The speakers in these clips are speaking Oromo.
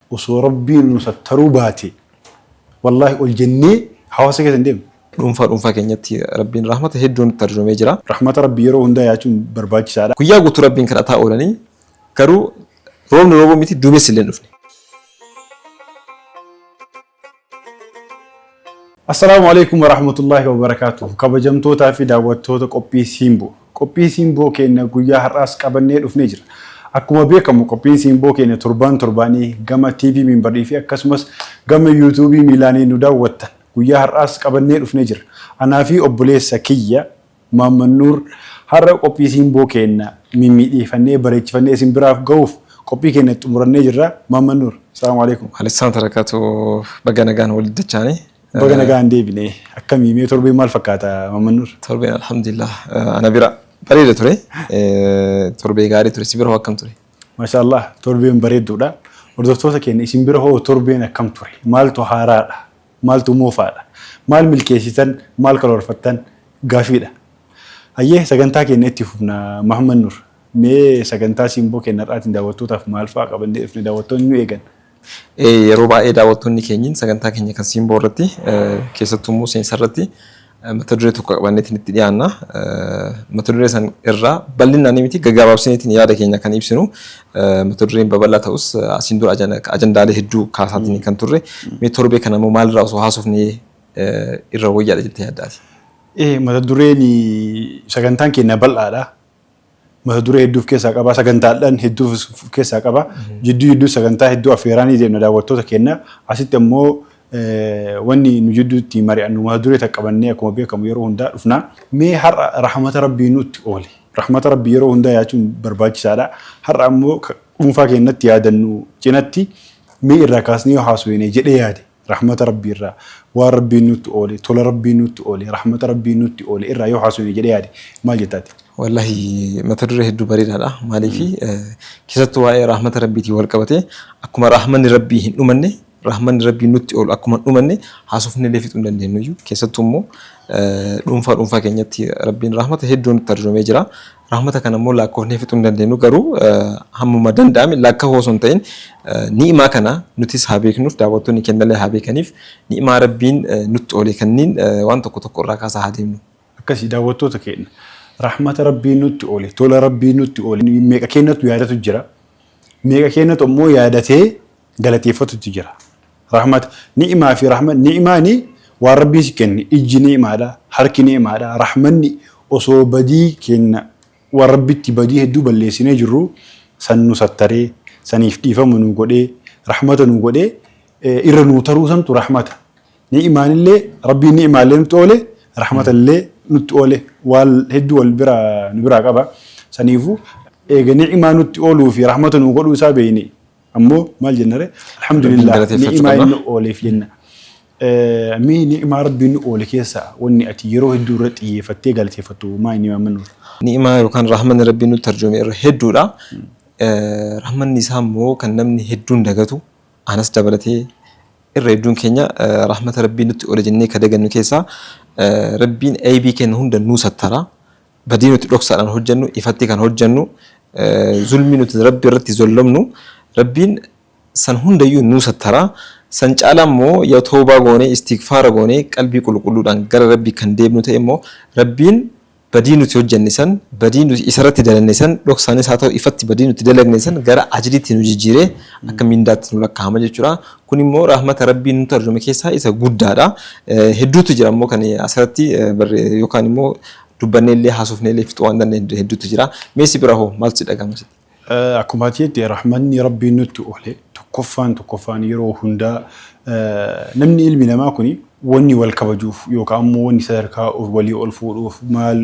Osoo rabbiin nu sattaruu baate wallahi ol jennee hawaasa keessa hin deemnu. Dhuunfaa dhuunfaa keenyatti Rabbiin rahmata hedduu nutti arjoomee jira. Rahmata Rabbii yeroo hundaa yaachuun barbaachisaadha. Guyyaa guutuu Rabbiin kadhataa oolanii garuu roobni roobuu miti duumessi illee hin dhufne. Assalaamu alaikum warahmatullaahi wabarakaatuh kabajamtootaa fi daawwattoota qophii Siimboo qophii Siimboo keenya guyyaa har'aas qabannee dhufnee jira akkuma beekamu qophiin Siimboo keenya torbaan torbaanii gama TV Minbarii fi akkasumas gama YouTube miilaanii nu daawwattan guyyaa har'aas qabannee dhufnee jira anaa fi obboleessa kiyya Maamman Nuur, Har'a qophii Siimboo keenna mimmiidheeyfannee, bareechifannee isin biraaf gahuuf qophii keenna itti xumurannee jirra. Maamman Nuur, Salaamu Aleeykum. Aleeykum Salaam Tarakaatu, Baga nagaan walitti dachaane. Baga nagaan deebine. Akkami mee torbeen maal fakkaata Maamman Nuur? Torbeen Alhamdulillaah ana bira bareeda ture. Torbee gaarii ture. Si bira hoo akkam ture? Maashaa Allaah torbeen bareedduudha. Hordoftoota keenna isin bira hoo torbeen akkam ture? Maaltu haaraadha? Maaltu moofaadha? Maal milkeessitan? Maal karoorfattan? Gaaffiidha. Hayyee sagantaa keenya itti fufna Mahammad Nur. Mee sagantaa Simboo keenya har'aatiin daawwattootaaf maal fa'aa qabannee dhufne daawwattoonni nu eegan? Ee yeroo baay'ee daawwattoonni keenyi sagantaa keenya kan Simboo irratti keessattuu immoo seensa irratti mata duree tokko qabannee isinitti dhiyaanna. Mata duree san irraa bal'inaan miti gaggabaabsineetiin yaada keenya kan ibsinu. Mata dureen babal'aa ta'us asiin dura ajandaalee hedduu kaasaatiin kan turre. Mee torbee kana immoo maalirraa osoo haasofnee irra wayyaadha jettee yaaddaati? Mata dureen sagantaan keenya bal'aadha. mata duree hedduu of keessaa qaba. Sagantaadhaan hedduu of of keessaa qaba. Jidduu jidduu sagantaa hedduu affeeraa ni deemna daawwattoota keenya. Asitti ammoo eh, wanni nu jidduutti mari'annu mata duree takka qabannee akkuma beekamu yeroo hundaa dhufna. Mee har'a rahmata Rabbii nutti oole. Rahmata Rabbii yeroo hundaa yaachuun barbaachisaadha. Har'a ammoo ka dhuunfaa keenyatti yaadannu cinatti mee irraa kaasnee yoo haasofne jedhee yaade. Rahmata Rabbii irraa, waan Rabbiin nutti oole, tola Rabbiin nutti oole, rahmata Rabbiin nutti oole irraa yoo haasofne jedhee yaade maal jetta ati? Wallahi mata duree hedduu bareedaadha. Maaliifi keessattuu waa'ee rahmata Rabbiitiin wal qabatee akkuma rahmanni Rabbii hin dhumanne rahmanni Rabbii nutti oolu akkuma hin dhumanne haasofnee illee fixuu hin dandeenyuyyu. Keessattuu immoo dhuunfaa dhuunfaa keenyatti Rabbiin rahmata hedduu nutti arjoomee jira. Rahmata kana immoo laakkoofnee fixuu hin dandeenyu garuu hammuma danda'ame lakkahuu osoo hin ta'in ni'imaa kana nutis haa beeknuuf daawwattoonni kennallee haa beekaniif ni'imaa Rabbiin nutti oole kanniin waan tokko tokko irraa kaasaa haa deemnu. Akkasi daawwattoota keenna rahmata Rabbiin nutti oole tola Rabbiin nutti oole meeqa keennatu yaadatu jira meeqa keennatu ammoo yaadatee galateeffatutu jira. Rahmata ni'imaa fi rahma ni'imaani waan rabbiin si kenne ijji ni'imaadha, harki ni'imaadha, rahmanni osoo badii keenna waan rabbitti badii hedduu balleessinee jirru san nu sattaree, saniif dhiifama nuu godhee, rahmata nuu godhee irra nuu taruu santu rahmata. Ni'imaanillee rabbiin ni'imaallee nutti oole, rahmatallee nutti oole waan hedduu wal bira nu biraa qaba. Saniifuu eega ni'imaa nutti ooluu fi rahmata nuu godhuu isaa beeyne Ammoo maal jennare? Alhamdulillah ni'imaa inni ooleef jenna. Mee ni'imaa rabbi inni oole keessaa wanni ati yeroo hedduu irra xiyyeeffattee galateeffattu maa inni waan mannuuf? Ni'imaa yookaan rahmanni rabbi nutti arjoome irra hedduudha. Rahmanni isaa immoo kan namni hedduun dagatu anas dabalatee irra hedduun keenya rahmata rabbii nutti oole jennee ka dagannu keessaa rabbiin aybii kenna hunda nuu sattara. Badii nuti dhoksaadhaan hojjannu ifatti kan hojjannu, zulmii nuti Rabbi irratti zollamnu Rabbiin san hundayyuu nuu sattara. San caalaa immoo yoo tawbaa goonee, istighfaara goonee, qalbii qulqulluudhaan gara Rabbii kan deebinu ta'e immoo Rabbiin badii nuti hojjanne san, badii nuti Isarratti dalanne san, dhoksaanis haa ta'u ifatti badii nuti dalagne san gara ajriitti nu jijjiiree akka mindaatti nu lakkaa'ama jechuudha. Kun immoo rahmata Rabbiin nutti arjoome keessaa isa guddaadha. Hedduutu jira immoo kan asirratti yookaan immoo Dubbanneellee haasofneellee fixuu waan dandeenyu hedduutu jira. Mee si bira hoo maaltu si dhagahama sitti? Akkuma ati jette rahmanni Rabbii nutti oole tokkoffaan tokkoffaan yeroo hundaa namni ilmi namaa kuni wanni wal kabajuuf yookaa ammoo wanni sadarkaa walii ol fuudhuuf maal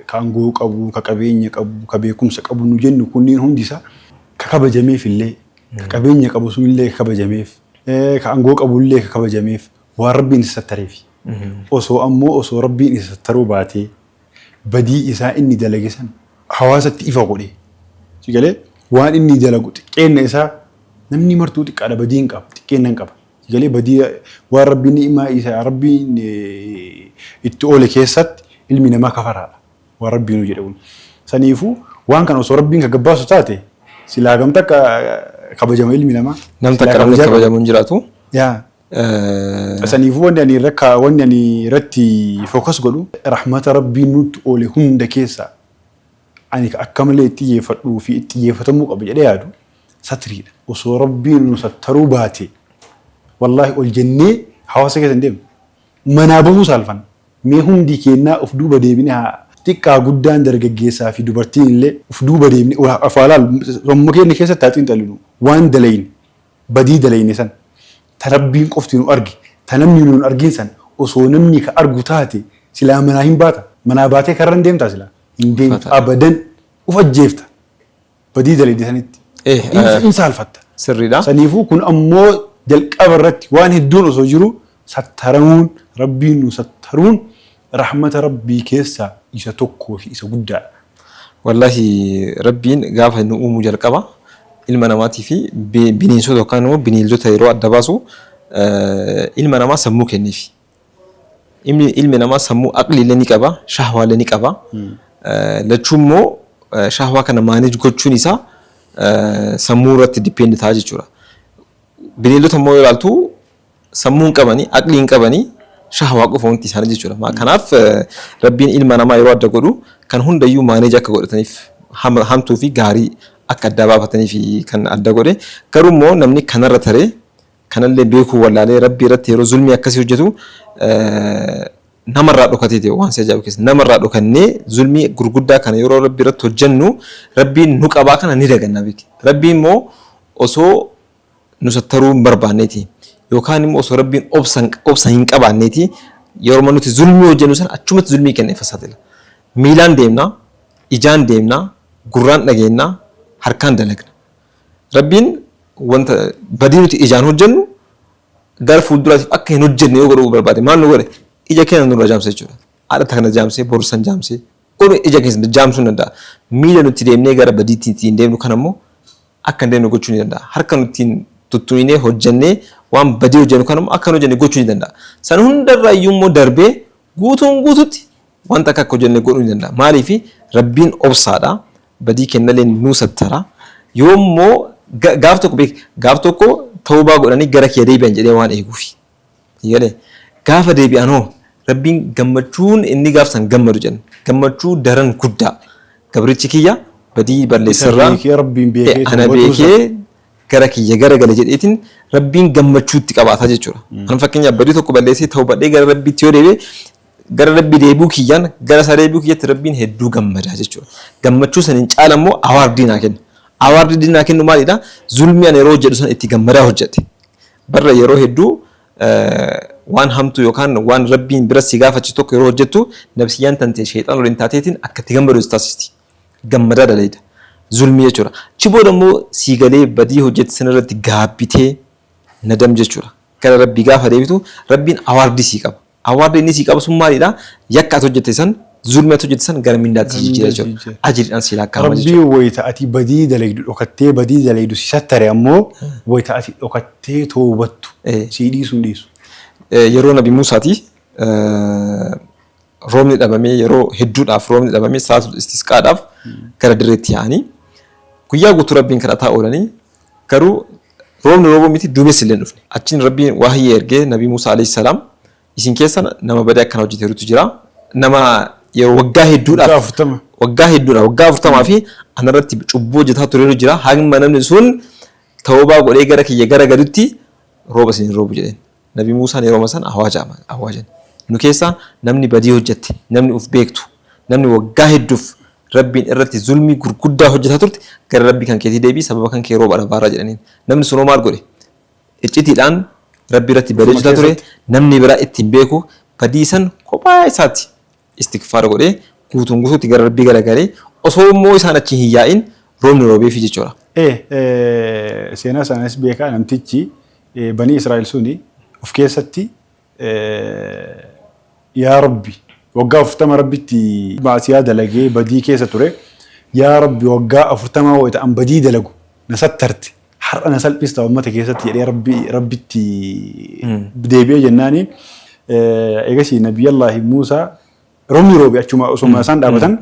ka angoo qabu, ka qabeenya qabu, ka beekumsa qabu nu jennu kunniin hundi isaa ka kabajameefillee ka qabeenya qabu sunillee ka kabajameef ka angoo qabullee ka kabajameef waan Rabbiin isa sattareefi. Osoo ammoo osoo Rabbiin isa sattaruu baatee badii isaa inni dalage san hawaasatti ifa godhee, si galee, waan inni dalagu xiqqeenna isaa namni martuu xiqqaadha badiin qaba, xiqqeenna hin qaba, si galee, badii waan Rabbiin ni'imaa isa Rabbiin itti oole keessatti ilmi namaa kafaraadha, waan Rabbiinuu jedhe kun. Saniifuu waan kana osoo Rabbiin ka gabbaasu taate silaa hagam takka kabajama ilmi namaa? Nam takka namni kabajamu hin jiraatu. Yaa. Saniifuu wanni ani irra kaa wanni ani irratti focus godhu rahmata Rabbiin nutti oole hunda keessaa ani ka akka malee itti xiyyeeffadhuu fi itti xiyyeeffatamuu qaba jedhee yaadu satriidha. Osoo Rabbiin nu sattaruu baatee wallaahi ol jennee hawaasa keessa hin deemnu. Manaa bahuu saalfanna. Mee hundi keennaa uf duuba deebinee haa xiqqaa guddaan dargaggeessaa fi dubartiin illee uf duuba deebinee of haa laallu. Sammuu keenna keessatti haa xiinxallinu. Waan dalayne. Badii dalayne san, ta Rabbiin qofti nu arge, ta namni nu hin argin san, osoo namni ka argu taate, silaa manaa hin baata? Manaa baatee karra hin deemtaa silaa? Hin deemtu, Uffata. abadan, uf ajjeefta. Badii dalayde sanitti. Eh, Hin- eh. hin saalfatta. Sirriidha. Saniifuu kun ammoo jalqaba irratti waan hedduun osoo jiruu Sattaramuun, Rabbiin nu sattaruun rahmata Rabbii keessaa isa tokkoo fi isa guddaadha. Wallaahi Rabbiin gaafa nu uumu jalqaba ilma namaatii fi bineensota yookaan immoo bineeldota yeroo adda baasu ilma namaa sammuu kenneefi. Ilmi, ilmi namaa sammuu aqlii illee ni qaba, shahwaa illee ni qaba. Lachuu immoo shahwaa kana maaneej gochuun isaa sammuu irratti dippeend ta'a jechuudha. Bineeldota immoo yoo ilaaltu sammuu hin qabani, aqlii hin qabani, shahwaa qofa wanti isaanii jechuudha. Ma- Kanaaf eh, rabbiin ilma namaa yeroo adda godhu kan hundayyuu maaneeji akka godhataniif hama- hamtuu fi gaarii akka addaa baafataniif kan adda godhe. Garuu immoo namni kanarra taree kanallee beekuu wallaalee rabbii irratti yeroo zulmii akkasii hojjetu eh, namarraa dhokatee ta'e waan si ajaa'ibu keessa namarraa dhokannee zulmii gurguddaa kana yeroo rabbii irratti hojjennu rabbiin nu qabaa kana ni daganna beeki. Rabbii immoo osoo nu sattaruu hin barbaanneeti. Yookaan immoo osoo Rabbiin obsa obsa hin qabaanneeti yeroma nuti zulmii hojjennu san achumatti zulmii kenna ifa saaxila. Miilaan deemna, ijaan deemna, gurraan dhageenna, harkaan dalagna. Rabbiin wanta badii nuti ijaan hojjennu gara fuulduraatiif akka hin hojjenne yoo godhuu barbaade maal nu godhe? Ija keenya nurra jaamse jechuudha. Haadha takna jaamse, boru san jaamse, godhu ija keessa jaamsuu hin danda'a. Miila nuti deemnee gara badiitti ittiin deemnu kan ammoo akka hin deemne gochuu ni danda'a. Harka nu ittiin tuttuminee hojjennee waan badii hojjennu kana immoo akka hin hojjenne gochuu ni danda'a. San hunda irra iyyuu immoo darbee guutuun guututti wanta akka akka hojjenne godhuu ni danda'a. Maaliif Rabbiin obsaadha. Badii kennaleen nuu sattara. Yoo immoo gaaf tokko beek gaaf tokko tawbaa godhanii gara kiyya deebi'an jedhee waan eeguufi. Sii galee? Gaafa deebi'an hoo? Rabbiin gammachuun inni gaaf san gammadu jenne gammachuu daran guddaa. Gabrichi kiyya badii balleesse irraa ta'e ana beekee gara kiyya gara gale jedheetiin Rabbiin gammachuu itti qabaata jechuudha. An fakkeenyaaf badii tokko balleessee tawbadhee gara Rabbiitti yoo deebi'e gara Rabbii deebi'uu kiyyaan gara isaa deebi'uu kiyyatti Rabbiin hedduu gammada jechuudha. Gammachuu saniin caala immoo awaardii naa kenna. Awaardii naa kennu maalidha? Zulmii ani yeroo hojjedhu san itti gammadaa hojjedhe. Barra yeroo hedduu waan hamtuu yookaan waan Rabbiin bira si gaafachisu tokko yeroo hojjettu nabsiyyaan tante sheyxaana waliin taateetiin akka itti gammadu si taasisti. Gammadaa dalayda. Zulmii jechuudha. Achi booda immoo sii galee badii hojjette san irratti gaabbitee nadam jechuudha. Gara Rabbii gaafa deebitu Rabbiin awaardii sii qaba. Award inni sii qabu sun maalidha? Yakka ati hojjette san, zulmi ati hojjette san gara mindaatti sii jijjiira jechuudha. Ajriidhaan sii lakkaa'ama jechuudha. Rabbiin wayta ati badii dalaydu dhokattee badii dalaydu si sattare ammoo wayta ati dhokattee tawbattu sii dhiisuu hin dhiisu. Yeroo Nabi Muusaati roobni dhabamee yeroo hedduudhaaf roobni dhabamee salaatul istisqaadhaaf gara dirreetti yaa'anii guyyaa guutuu Rabbiin kadhataa oolanii garuu Roobni roobuu miti duumessi illee hin dhufne. Achiin Rabbiin wahyii ergee Nabii Muusaa aleyh salaam isin keessa nama badaa akkanaa hojjateerutu jira. Nama yeroo waggaa hedduudhaaf. Waggaa afurtama. Waggaa hedduudhaaf waggaa afurtamaa fi ana irratti cubbuu hojjataa tureeru jira hanga namni sun tawbaa godhee gara kiyya gara galutti rooba isin hin roobu jedheen. Nabi Muusaan yerooma san awaajama, awaajan. Nu keessaa namni badii hojjatte, namni uf beektu, namni waggaa hedduuf Rabbiin irratti zulmii gurguddaa hojjataa turte gara Rabbii kan keetii deebi'i, sababa kan kee rooba dhabaarra jedhaniin. Namni sun hoo maal godhe? Iccitiidhaan Rabbii irratti badii Ofuma hojjataa ture, keessatti. namni biraa itti hin beeku, badii san kophaa isaati istigfaara godhee guutuun guutuutti gara Rabbii garagalee osoo immoo isaan achi hin yaa'in roobni roobeefi jechuudha. e Seenaa isaaniis beekaa namtichi banii Israa'il suni of keessatti Yaa Rabbi waggaa afurtama Rabbitti ma'asiyaa dalagee badii keessa ture, Yaa Rabbi waggaa afurtamaa wayita an badii dalagu na sattarte, har'a na salphista uummata keessatti jedhee rabbi rabbitti deebi'ee jennaani eegasii nabiyyallaahi Muusaa roobni roobe achuma osuma isaan dhaabatan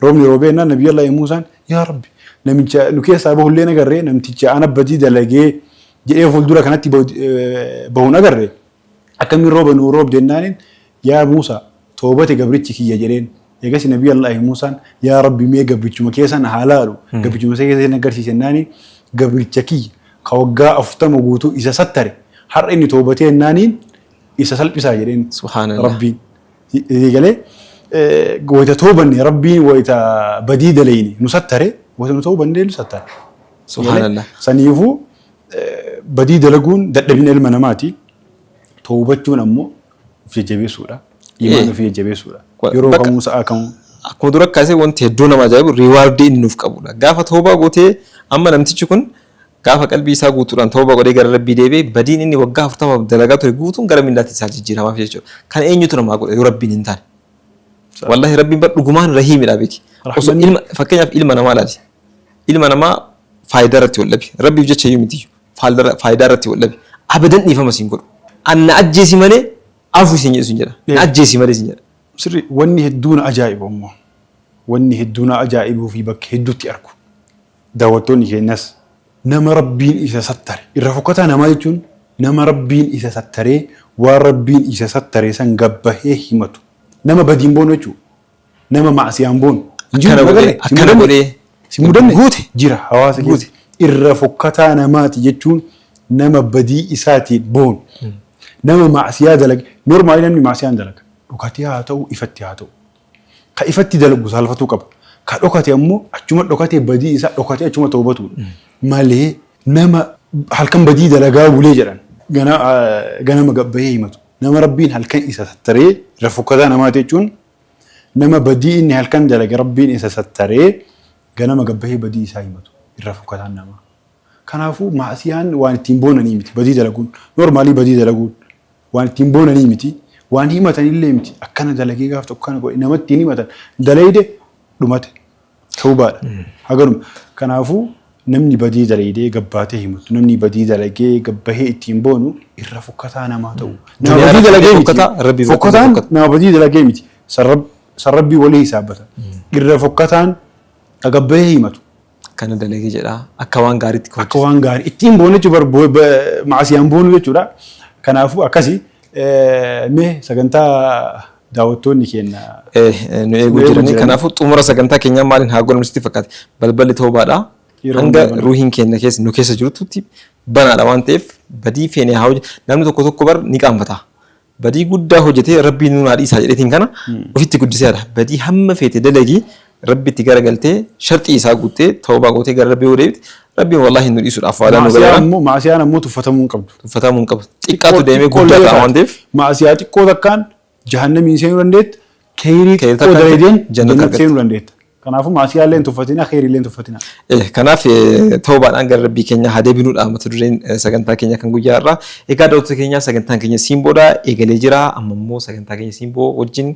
roobni roobee jennaan nabiyyallaahi Muusaan yaa rabbi namicha nu keessaa bahullee nagarree namticha ana badii dalagee jedhee fuuldura kanatti bahuun agarre Akkamiin rooba nuu roobde jennaaniin, Yaa Muusa! Toobate gabrichi kiyya jedheen. Eegasii Nabiy Allahi Muusaan, Yaa Rabbi mee gabrichuma kee sana haa laalu, gabrichuma isa keessa na garsiisi jennaaniin, gabricha kiyya ka waggaa 40 guutuu isa sattare, har'a inni toobatee jennaaniin isa salphisaa jedheen Rabbiin. Sii galee? Wayta toobanne Rabbiin wayta badii dalayne nu sattare, wayta nu toobanne illee nu sattara. Sii galee? Saniifuu Badii dalaguun dadhabina ilma namaati. Tawbachuun ammoo of jajjabeessuudha. Imaan Ee. ofii jajjabeessuudha. Wa- Yeroo bakka- kamuu sa'aa kamuu. Akkuma dura kaasee wanti hedduu nama ajaa'ibu riiwaardii inni nuuf qabudha. Gaafa toobaa gootee amma namtichi kun gaafa qalbii isaa guutuudhaan toobaa godhee gara rabbii deebi'e badiin inni waggaa afurtamaaf dalagaa ture guutuun gara mindaatti isaa jijjiiramaaf jechuudha. Kan eenyutu namaa godhe yoo rabbiin hin taane. Wallahi rabbiin bar dhugumaan rahiimidha beeki. Osoo Rahmanni- ilma fakkeenyaaf ilma namaa ilaali. ilma namaa faayidaa irratti wal dhabe rabbiif jecha iyyuu miti faalda- faayidaa irratti wal dhabe abadan dhiifama siin godhu an na ajjeesi malee afu siin jedhu siin jedha na ajjeesi malee siin jedha Sirri wanni hedduu na ajaa'ibu ammoo wanni hedduu na ajaa'ibuu fi bakka hedduutti argu daawwattoonni keenyas nama rabbiin isa sattare irra fokkataa namaa jechuun nama rabbiin isa sattaree waan rabbiin isa sattaree san gabbahee himatu nama badiin boonu jechuudha. Nama maasiyaan boonu. Hin jiru, Akkana hin godhee, agarre. Sin akkana mudanne? godhee. Sin mudanne? Guute. Jira hawaasa Guute. keessa. Irra fokkataa namaati jechuun nama badii isaatiin boonu. Nama maasiyaa dalaga. Normaali namni maasiyaan dalaga. Dhokatee haa ta'u, ifatti haa ta'u. Ka ifatti dalagu saalfatuu qaba. Ka dhokate ammoo achuma dhokatee badii isaa dhokatee achuma toobatudha. Malee Nama halkan badii dalagaa bulee jedhan ganama gabbahee himatu. Nama Rabbiin halkan isa sattaree irra fokkataa namaati jechuun nama badii inni halkan dalage Rabbiin isa sattaree ganama gabbahee badii isaa himatu irra fokkataan namaa. Kanaafuu maasiyaan waan ittiin boonanii miti. Badii dalaguun noormaalii badii dalaguun waan ittiin boonanii miti. Waan himatan illee miti. Akkana dalagee gaaf tokko kana godhe nama ittiin himatan dalayde dhumate. Tawbaadha. Haganuma. Kanaafuu namni badii dalaydee gabbaatee himatu, namni badii dalagee gabbahee ittiin boonu irra fokkataa namaa ta'u. Nama Duniyaa badii irratti dalagee illee miti. fokkataa, Rabbii biratti illee Fokkataan fokkata. nama badii dalagee miti. San Rab- san Rabbii walii hisaabbata. Irra fokkataan ka gabbahee himatu. Kana dalagee jedhaa akka waan gaariitti akka waan gaarii ittiin boonu jechuun bar- bo- ba- maasiyaan boonu jechuudha. Kanaafuu akkasi Mee sagantaa daawwattoonni keenya nu eeguu jiranii kanaafuu xumura sagantaa keenyaa maaliin haa godhamu sitti fakkaate balballi toobaadha hanga ruuhiin keenya keessa nu keessa jirtutti banaadha waan ta'eef badii feenee haa hojjetu namni tokko tokko bar ni qaanfata badii guddaa hojjetee rabbii nuun haa dhiisaa jedheetiin kana ofitti guddiseera badii hamma feete dalagii Rabbitti gara galtee sharxii isaa guuttee tawbaa gootee gara Rabbii yoo deebite Rabbiin wallaahi nu dhiisuudhaaf waadaa nu Maasiyaan galeera. immoo maasiyaan ammoo tuffatamuu hin qabdu. Tuffatamuu hin qabu. Xiqqaatu deemee Xiqqoo guddaa illee ta'a waan taate, ta'eef Maasiyaa xiqqoo takkaan jahannamiin seenuu dandeetta. Keeyrii Keeyrii xiqqoo takkaan dalaydeen jannata jannata argatta. seenuu dandeetta. Kanaafuu maasiyaa illee hin tuffatinaa, keeyrii illee hin tuffatinaa. Eh, kanaaf eh, tawbaadhaan gara rabbii keenya haa deebinuudha mata dureen eh, sagantaa keenya kan guyyaa irraa egaa daawwattoota keenya sagantaan keenya siin booda eegalee jira amma immoo sagantaa keenya siin boo wajjin